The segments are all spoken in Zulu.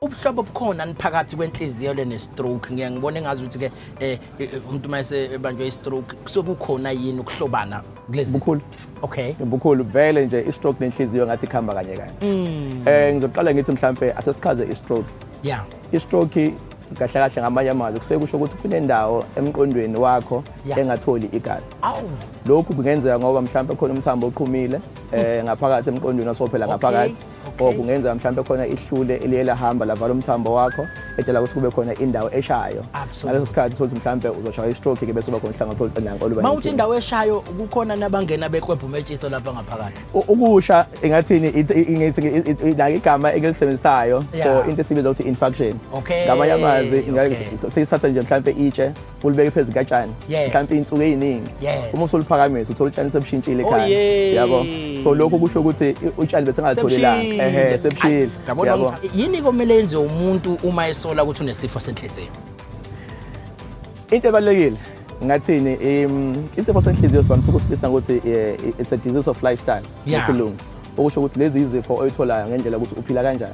ubuhlobo obukhona niphakathi kwenhliziyo le ne-stroke ngiye ngibone ngazi ukuthi ke eh, eh, eh umuntu uma esebanjwe i-stroke kusuke kukhona yini ukuhlobana kulezi bukhulu okay bukhulu vele nje i-stroke nenhliziyo ngathi ikhamba kanye kanye mm. eh ngizoqala ngithi mhlambe asesichaze i-stroke yeah i-stroke kahle kahle ngamanye amazwi kusuke kusho ukuthi kunendawo emqondweni wakho engatholi igazi lokhu kungenzeka ngoba mhlawumbe khona umthambo oqhumile um ngaphakathi emqondweni osophela ngaphakathi or kungenzeka mhlawumbe khona ihlule eliye lahamba lavala umthambo wakho edala ukuthi kube khona indawo eshayo ngaleso sikhathi uthole ukuthi mhlawumbe uzoshaya istroke ke bese uba khona uhlanga thole nanko oluba mawuthi indawo eshayo kukhona nabangena bekwebhu metshiso lapha ngaphakathi ukusha ingathini ingithi la igama engilisebenzisayo for into esibiza ukuthi infarction ngamanye amazwi sisatha nje mhlawumbe itshe ulibeke phezu katshani Yes. mhlawumbe iy'nsuku ey'ningi Yes. uma usuluphakamisa uthola utshani sebushintshile Oh, ekhaya yay. yabo so lokho kusho ukuthi i- utshani besengatholelanga Sebushile. ehe sebushile Ay, yabona yabo ukuthi- yini komele yenze umuntu uma esola ukuthi unesifo senhliziyo into ebalulekile ngathini im- isifo senhliziyo sivamise ukusibisa ngokuthi eh, it's a disease of lifestyle Yeah. ngesilungu okusho ukuthi lezi izifo oyitholayo ngendlela ukuthi uphila kanjani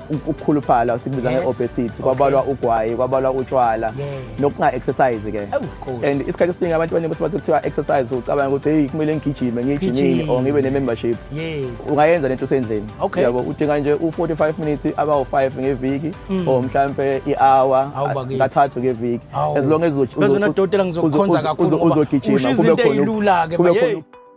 ukukhuluphala sibiza Yes. nge-obesity Okay. kwabalwa ugwayi kwabalwa utshwala Yeah. nokunga-exercise ke Awu, Nkosi. and isikhathi esiningi abantu abaningi basuke sekuthiwa exercise ucabanga ukuthi heyi kumele ngigijime ngiyijimini Gijima. or ngibe ne-membership yes ungayenza lento usendlini Okay. yabo udinga nje u-45 minutes abawu-5 ngeviki or mhlampe i-hour Mm. Awu, bakithi. kathathu ngeviki Awu. as long as uzo- Phezulu uzo- nadokotela ngizokukhonza uzo- kakhulu uzo- ngoba uzogijima ushiya kube izinto khona- eyilula-ke, kube baye. khona